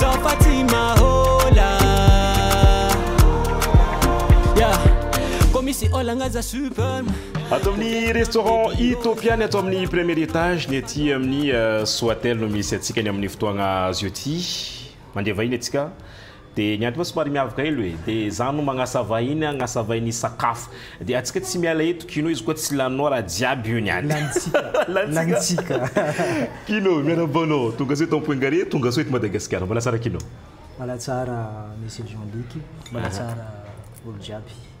Zao fa tsy mahola yeah. Koa misy olagna za super Ato amin'ny restaurant Utopia ny ato amin'ny premier étage ny aty amin'ny euh, Soatel no misy antsika ny amin'ny fotoagna azo ity. Mandeha vahiny atsika. Dia ny antony hoe somary miavaka helo e, dia za no magnasa vahiny agnasa vahiny sakafo, dia atsika tsy miala eto kino izy koa tsy laninao raha jiaby io niany. Lanintsika, lanintsika. Kino, miarahaba anao, tongasoa eto Ampoingare, tongasoa eto Madagasikara, mbala tsara kino. Mbala tsara Monsieur Jean Luc, mbala tsara olo jiaby.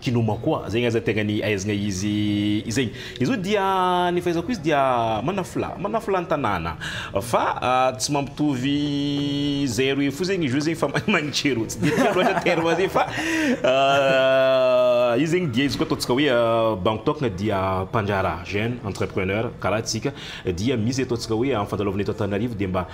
Kinoma koa zegny aza tegna ny ahaizagna izy izegny. Izy io dia ny fahaizako izy dia manafolahy, manafolahy ny tanàna fa tsy mampitovy zay roe fo zegny izy io zegny fa mahay magnitrerô. Tsy dia tiako loatra terme zay fa io zegny dia izy koa ataontsika hoe bango tôkana dia mpandraharaha, jeune entrepreneur, karaha antsika dia misy ataontsika hoe am'fandalovana eto Antananarivo dia mba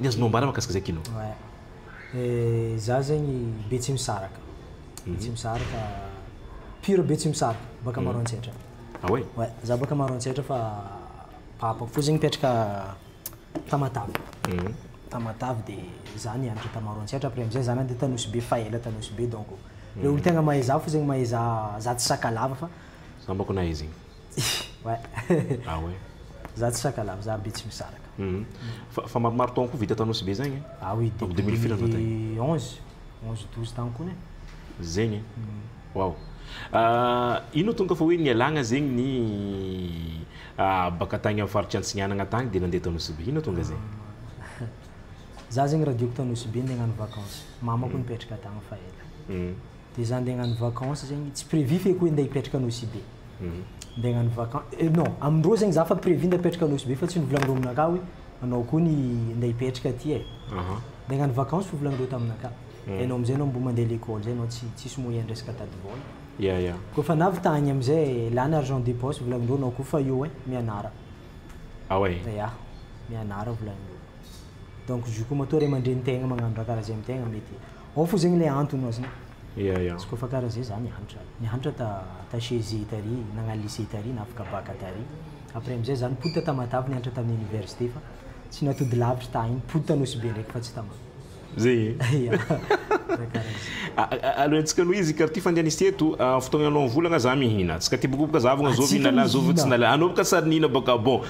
Ny azonao ambara mahakasika izay kino? Eh, za zegny Betsimisaraka, Betsimisaraka, pure Betsimisaraka, baka Maroantsetra. Ah ouais? Ouais, za baka Maroantsetra fa papako fô zegny mipetraka Tamatave, Tamatave de za nianatra ta Maroantsetra après amizay za nandeha ta Nosy Be fa ela ta Nosy Be donc le olo tegna mahay za fô zegny mahay za, za tsy Sakalava fa. Za mbô ko nahay zegny. Ah ouais. Za tsy sakalava, za be tsy misaraka. Fa fa maromaro taogno koa vita tao Nosy be zagny e. Ah oui, depuis deux mille firy anao tagny? onze, onze douze tagny kony e. Zegny e. Wow. Ino no tonga fa hoe nialagna zegny ny baka tagny amin'ny faritry Antsignanagna tagny dia nandeha tao Nosy be? Ino tonga zay? Za zegny raha diako tao Nosy be ndeha hagnano vacances. Mamako nipetraka tagny fa ela. Dia izaho handeha hagnano vacances zegny, tsy prévu feky hoe handeha hipetraka à Nosy Be. Handeha hagnano vacances, eh non, amin-drô zegny izaho efa prévu handeha hipetraka à Nosy Be fa tsy novolan'irô aminakahy hoe anao koa ny handeha hipetraka aty eh. Handeha hagnano vacances fo volan'irô taminakahy. Dia ianao amin'izay ianao mbo mandeha à l'école izay ianao tsy tsisy moyen resaka date vol. Ya ya. Koa efa nahavitagna amin'izay eh, lany argent de poche volan'irô anao koa fa eo eh, mianara. Ah ouais. Ya, mianara volan'irô. Donc izy io koa matoa ray aman-drenin-tegna magnano raha karaha zay amin-tegna mety. Ao fo zegny le antony ozy ny. Ia ia. Izy kôfa kara zay za nianatra, nianatra ta ta chez i tary, nagnano lycée tary, nafaka bac tary, après amizay za nipoditra ta matavy nianatra tam université fa tsy natody lavitry ta any, nipody ta nosy be ndraiky fa tsy ta ma. Ze e. Ia za kara zay. A a aleo antsika aloha izy kara ty fandehan'izy ty eto, fotoagna ianao mivola nga za mihina, tsika ty bokoboka za avogna zovy hinana zovy tsy nala, anao boka sary nihina boka bon,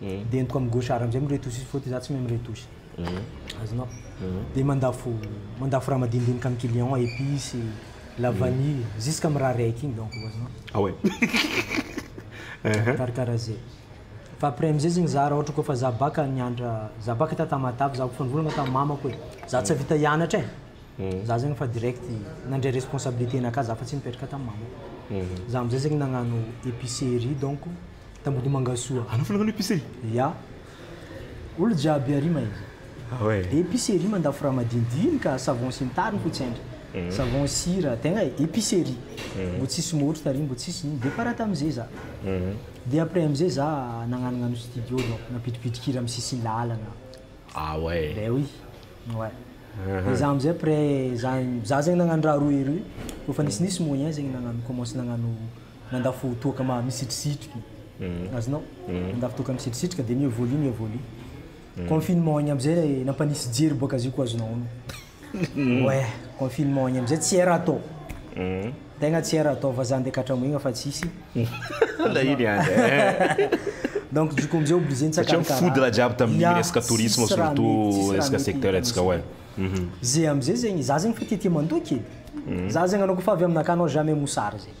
de entiko am gauche ary amzay miretouche fô ty za tsy mahay miretouche azonao de mandafo mandafo raha madinidinika am client a epice la vanille jusque am raha raiky igny donc azonao ah ouais karakara zay fa après amzay zegny za raha ohatra kôfa za baka nianatra za baka ta tamatave za kôfa nivolagna tam mamako hoe za tsy ahavita hianatra e za zegny efa direct nandray responsabilité naka za fa tsy nipetraka tam mamako za amzay zegny nagnano epicerie donc Tambodimangasoa. Anao fanao epicerie? Ya. Olo jiaby ary ma izy. Ah ouais. Epicerie mandafo raha madinidinika, savon sy ny tariny fo tsy haintra. Savon sira, tegna e, epicerie. Mbo tsisy môtro tary, mbo tsisy ino, de fara tamizay za. De après amizay za nagnanognano studio donc nampitripitrikira am sisin lalana. Ah ouais. Ben oui. Ouais. De za amizay après za za zegny nagnano raha roe roe, kôfa nisy nisy moyen zegny nagnano commence nagnano. mandafo toaka ma misitrisitriky azonao mandafo toaka misitrisitrika dia mi evolue mi evolue confinement igny amizay le nampanisy jery boaka azy io koa azonao onony ouais confinement igny amizay tsy era atao tegna tsy era atao vazaha ndeha katramoigna fa tsisy la iny any donc du coup amizay obligé satria mifodina jiaby tamin'ny resaka tourisme surtout resaka secteur antsika ouais ze amizay zegny za zegny fa tiatia mandoky e za zegny anao koa fa avy aminakahy anao jamais mosary zegny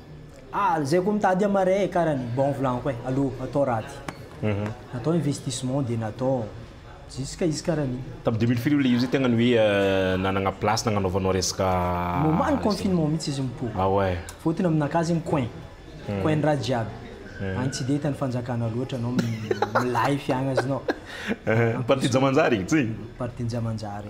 Ah zay koa mitady am marais e kara ny bon volagno koa e alou atao raty atao investissement de natao jusque izy kara ny Tam deux mille firy io le io zay tegna ny hoe nanagna place nagnanaovanao resaka moment ny confinement mintsy izy mipoko Ah ouais. fotony aminakahy zegny coin coin ny raha jiaby any tsy de hita ny fanjakana loatra anao milay fiagnaznao Partie Jamanjary igny tsy? Partie Jamanjary.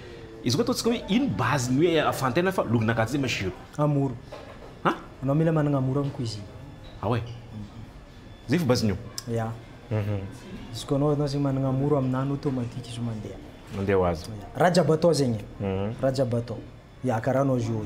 Izy koa ataontsika hoe ino base ny hoe ahafantaina fa logona gasy zay ma shiro? Amour. Ha? Anao mila managna amour am cuisine. Ah ouais? Zay fo base ny eo? Ya. Izy koa anao anao zegny managna amour aminany automatique izy io mandeha. Mandeha ho azy. Raha jiaby atao zegny e. Raha jiaby atao. Ya karaha anao zio.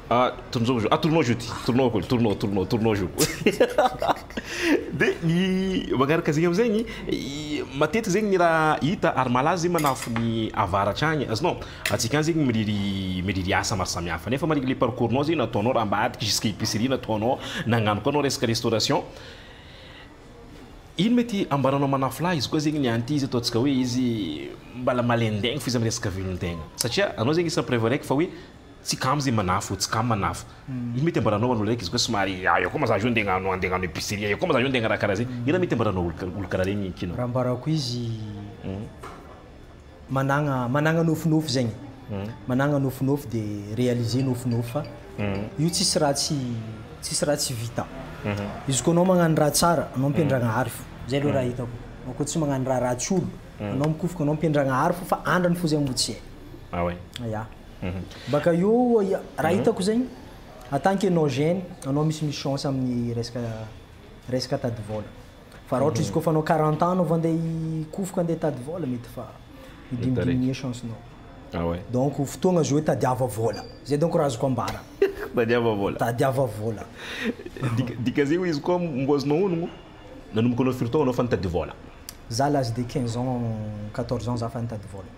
Ah, tourne au jeu. Ah, tourne au jeu ty. Tourne au, tourne au, tourne au, tourne au jeu. Dia ny magnaraka zegny am'zegny, matetiky zegny ny raha hita ary malaza zegny manafo ny avaratra agny, azonao? Antsika agny zegny miriry miriry asa maro samihafa nefa mariky le parcours-nao zegny nataonao raha ambadika jusqu'à épicerie nataonao, nagnano koa anao resaka restauration. Ino mety ambaranao manafo lahy? Izy koa zegny ny an'ity izy ataontsika hoe izy mbala malain-daigny fo izy am'resaka velon-tegna satria anao zegny isan'ny preuve araiky fa hoe Tsy kamo ze manafo, tsy kamo manafo. Ino mety ambaranao an'olo raiky izy koa somary aia koa ma za io nde agnano ande agnano epicerie aia koa ma za io nde agnaraha karaha ze. Ino mety ambaranao olo olo karaha regny kina? Raha ambarako izy managna managna nofinofy zegny, managna nofinofy de realiser nofinofy fa io tsisy raha tsy tsisy raha tsy vita. Izy koa anao magnano raha tsara anao mpiandragnahary fo. Zay aloha raha hitako. Anao koa tsy magnano raha ratsy olo anao mikofoka anao mpiandragnahary fo fa andrany fo zegny mbo tsy hay. Ah ouais. Ya. Mhm. Baka eo, raha mhm. hitako zegny, en tant que non jeune, anao misy misy chance amin'ny resaka resaka tady vola. Fa raha izy mhm. kofa anao 40 ans vao andeha hikofoka andeha tady vola mety fa midimidimier chance nao. Ah ouais. Donc fotoagna azo hoe tadiava vola. Zay donc raha azoko ambara. tadiava vola. Tadiava vola. Dika zegny izy koa mbo azonao honogno nanomboka anao firy taogno anao fa nitady vola? Za l'âge de 15 ans 14 ans za fa nitady vola.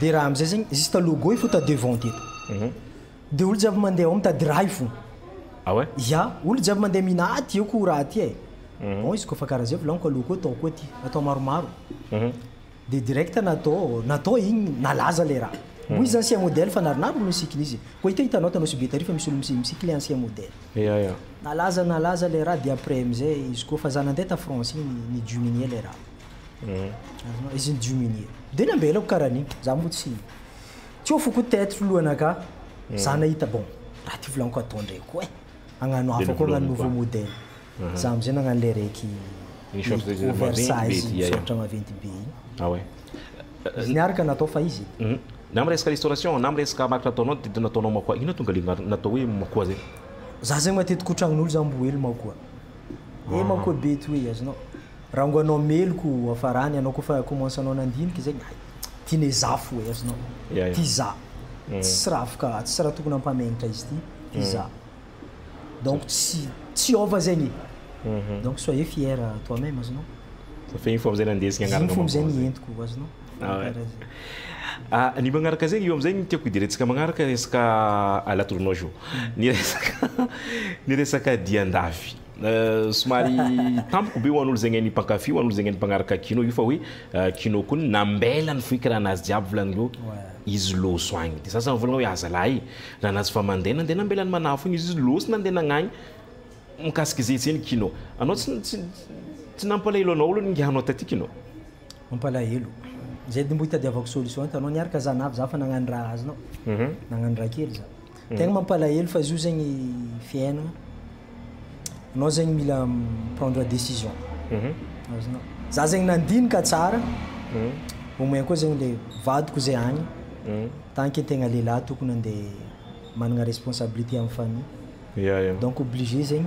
dia raha amizay zegny juste logo ifo ta devant ty eto dia olo jiaby mandeha ao mitady raha ifo ah ouais ya olo jiaby mandeha mina aty eo ko raha ty e bon izy kofa karaha zay volaniko alou koa atao koa ty atao maromaro dia direct natao natao igny nalaza le raha moa izy ancien modèle fa narinariny olo nisikina izy koa hita hitanao hitanao sous Betary fa misy olo misiky le ancien modèle ya ya nalaza nalaza le raha dia après amizay izy koa fa za nandeha ta France igny ni diminuer le raha azonao izy ny diminuer de nambelako karaha an'io za moa tsy tsy ho foko tête lohanakà za nahita bon raha ty volaniko atao ndray koa e agnano hafa koa agnano nouveau modèle za am'zay nagnano le raiky oversize misoratra maventy be igny ah ouais izy niaraka natao fa izy na am' resaka restauration na am' resaka marque nataonao de nataonao makoa ino tonga le natao hoe makoa zay za zegny matetiky ho tragnon'olo za mbo hely makoa eh makoa be toy azonao Rango anao meloku afarany anao kofa commence anao nandinika zegny hay tine za fo e azonao ty za tsisy ra afaka tsisy ra tokony ampamegnitra izy ty ty za donc tsy tsy hiova zegny e donc soyez fier toi meme azonao Fa igny fo amizay nandeha zegny agnarana maman zegny. Igny fo amizay ny entiko azonao kara zegny. Ny magnaraka zegny io amizay ny tiako hiderentsika magnaraka resaka la tournoi jour ny resaka ny resaka dian-dafy Somary tampoka be ho an'olo zegny hain'ny mpankafy, ho an'olo zegny hain'ny mpagnaraka kino io fa hoe kino kony nambela ny fohikaranazy jiaby volagnin'ireo izy loso agny. De sasany mivolagna hoe aza lahy nanazy fa mandeha nandeha nambela ny manafo igny izy, izy loso nandeha nagnagny mikasika izay izay ny kino. Anao tsy tsy tsy nampalahelo anao olo ningahanao taty kino? Mampalahelo. Zay de mbo itadiavako solution ento anao niaraka zan avy za fa nagnano raha azonao nagnano raha kely za tegna mampalahelo fa zio zegny fiaignana anao zegny mila mi prendre decision azonao za zegny nandinika tsara au moins koa zegny le vadiko zay agny tant que tegna lehilahy tokony ande managna responsabilité am famille donc obligé zegny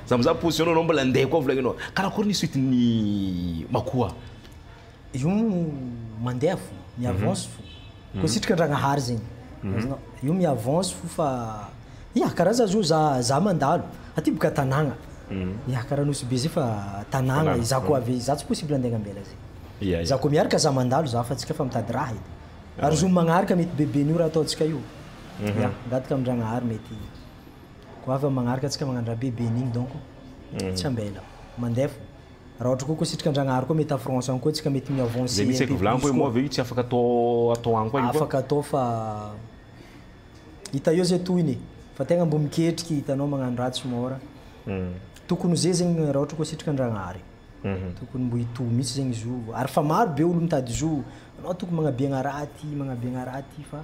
Za mizaha position nao anao mbola ndeha koa volagny anao karakory ny suite ny makoa? Io mandeha fo, mi avance fo. Ko sitrika Andragnahary zegny. Azonao? Io mi avance fo fa ya kara za zo za za mandalo aty boka tanagna ya kara Nosy be zay fa tanagna e za ko avy za tsy possible andeha agnambela zegny. Za ko miaraka za mandalo za fa tsika fa mitady raha edy. Ary zo magnaraka mety be be nio raha ataontsika io. Ya, ngadaka amin-dragnahary mety Goava magnaraka antsika magnano raha be be an'igny donc tsy ambela. Mandeha fo. Raha ohatra koa koa sitrika Andragnahary koa mety afrance agny koa antsika mety mi avancer un peu plus koa. Zay mihitsy eky volagny hoe moa ve io tsy afaka atao atao agny koa io koa. Afaka atao fa hita eo zay tohiny e. Fa tegna mbo miketriky hitanao magnano raha tsy mora. Tokony ho zay zegny raha ohatra koa sitrika Andragnahary. Tokony mbo hitohy mihitsy zegny izy io. Ary fa maro be olo mitady izy io. Anao tokony magnabiagna raha ty, magnabiagna raha ty fa.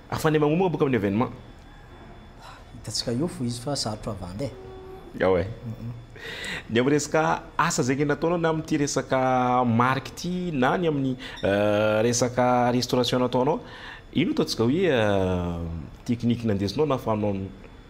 Afane magnomagna boka amin'ny evenement. Hitantsika eo fo izy fa sarotra vandy e. Ao e. Ny amin'ny resaka asa zegny nataonao na amin'ity resaka marque ity na ny amin'ny resaka restauration nataonao, ino ataontsika hoe technique nandesinao nahafahanao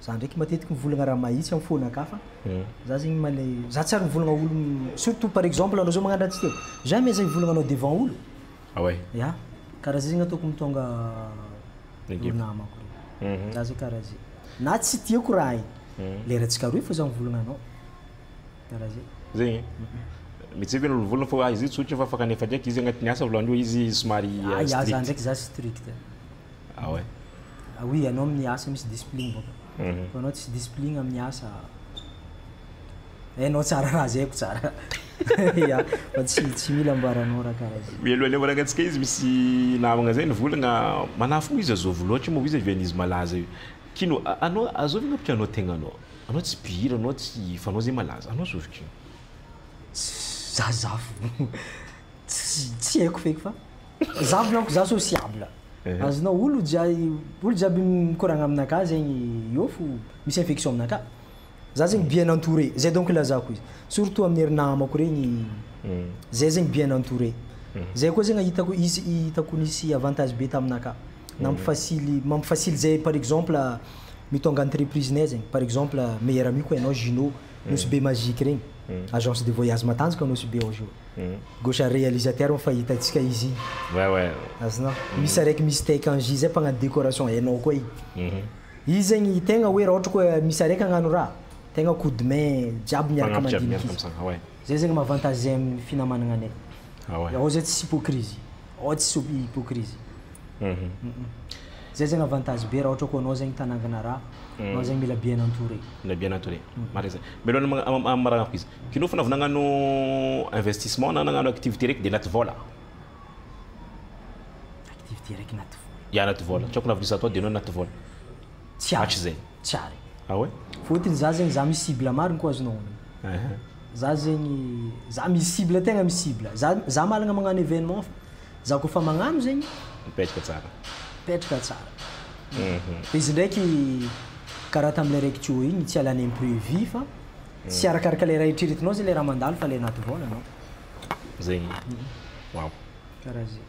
Za ndraiky matetiky mivolagna raha mahitsy am fona ka fa za zegny male za tsy ary mivolagna olo surtout par exemple anao zao magnano raha tsy tiako jamais za hivolagna anao devant olo Ah ouais? Ya karaha zay zegny ataoko mitônga Ekipa. namako regny za zegny karaha zay na tsy tiako raha igny lera tsy karohy fô za mivolagna anao karaha zay. Zegny? Mihitseko anao mivolagna fa izy io tsotra fa fa kanefa ndraiky izy agnatiny asa vôlohany io izy somary ah ya za strict. ndraiky za strict. Ah ouais? Ah oui, ianao amin'ny asa misy discipline bôka. Fa ianao tsisy discipline amin'ny asa. Hainao tsara raha zay ko tsara. Ya, fa tsy tsy mila ambaranao raha karaha zay. Mialoha aleha manakantsika izy misy namagna zay nivolagna manafo moa izy azôvy lôtra moa izy avy an'izy malaza io. Kino a- anao azôvy anao bôka anao tegnanao. Anao tsy mpihira anao tsy fa anao zay malaza. Anao azôvy kino. Za zafy. Tsy tsy haiko feky fa za blanco za sociable. Azonao olo jiaby olo jiaby mikoragna aminakahy zegny eo fo misy infection aminakahy. Za zegny bien entouré zay donc ilazako izy surtout amin'ny ry namako regny zay zegny bien entouré. Zay koa zegny hitako izy hitako nisy avantage be taminakahy nampifasily mampifasily zay par exemple mitônga entreprise nay zegny par exemple meilleur ami ko enao Gino Nosy be magique regny agence de voyage matanjaka Nosy be ao Gino. Gauche realisateur moa fa hitantsika izy igny azonao misy araiky misy take en jeu zay mpagnano décoration hainao koa igny izy zegny tegna hoe raha ohatra koa misy araiky hagnano raha tegna coup de main jiaby miaraka mandinika izy zay zegny maha avantage zay amin'ny finamagnana anay raha ohatra zay tsisy hypocrisie. Oh tsy soupy hypocrisie Zay zegny avantage be raha ohatra koa anao zegny tanangana raha anao zegny mila bien entouré. Mila bien entouré. Marigny zay. Mialohan'ny amaragna foko izy. Kinô fô na vao nagnano investissement na nagnano activité raiky de anaty vôla. Activité raiky anaty vôla. Ya anaty vôla. Tsôkina vola izy atao de anao anaty vôla. Tsy hatrizay. Tsy ary. Ah ouais? Fôtiny za zegny za misy cible marigny koa azonao onony. Aha. Za zegny za misy cible tegna misy cible. Za za mahalagna magnano événement fa za kôfa magnano zegny. Mipetraka tsara. Mipetraka tsara. Fa izy ndraiky karaha tamle raiky Teo igny tsy halany imprévu fa tsy arakaraka le raha eritreretinao zegny le raha mandalo fa le anaty vôlanao. Zegny. Waouh. Karaha zegny.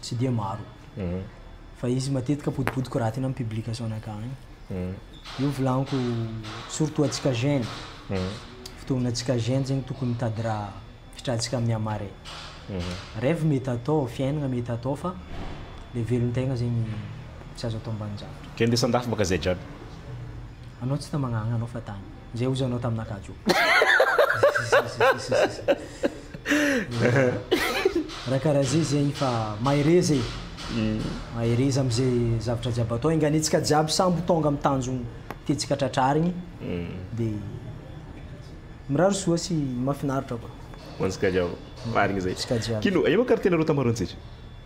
tsy dia maro fa izy matetika potipotiko raha tena amin'ny publication-ny akany io volaniko surtout atsika jeune fotoana atsika jeune zegny tokony mitady raha fitratsika amin'ny amare rêve mety atao fiaignana mety atao fa le velon-tegna zegny tsy azo atao ambanin-javatra Kende sandafy baka zay jiaby. Anao tsy ta magnagna anao fa tany. Zay ozy anao taminaka jo. Raha karaha zay zegny fa mahereza e. Mm. Mahereza am'izay zavatra jiaby atao. Enganetsika jiaby sambo tonga amin'ny tanjogny tiantsika tratrarigny. Mm. De mirary soa sy mahafinaritra koa. Ho antsika jiaby. Marigny zay. Antsika jiaby. Kino, aia moa ka ry tena rô tamaroantsika?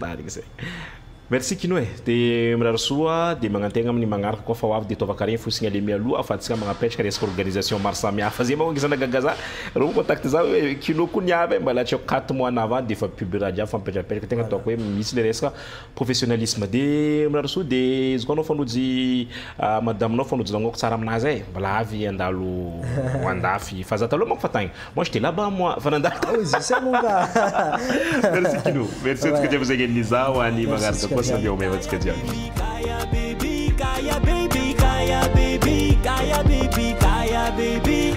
Marigny zay. Merci Kino e. De mirary soa de magnantegna amin'ny magnaraka koa fa ho avy de ataovaka regny fotsiny aleha mialoha fa antsika magnapetraka resaka organisation maro samy hafa. Zay manko ngisana gaga za reo mi contacte za hoe Kino koa ny avy e mbala atreo quatre mois na avant de efa pub raha jiaby fa mipetrapetraka tegna ataoko hoe misy le resaka professionnalisme. De mirary soa de izy koa anao fanojo i madame nao fanojo nagnôko tsara aminazy e mbala avy handalo andafy fa za taloha manko fa tagny. Moi j'étais là-bas moi, fa nandalo. Ah oui, zisay moa ka. Merci Kino. Merci antsika jiaby izay nihaino izaho ho any Magnaraka koa samia ho meva antsika jiaby. Kaya baby, kaya baby, kaya baby, kaya baby, kaya baby.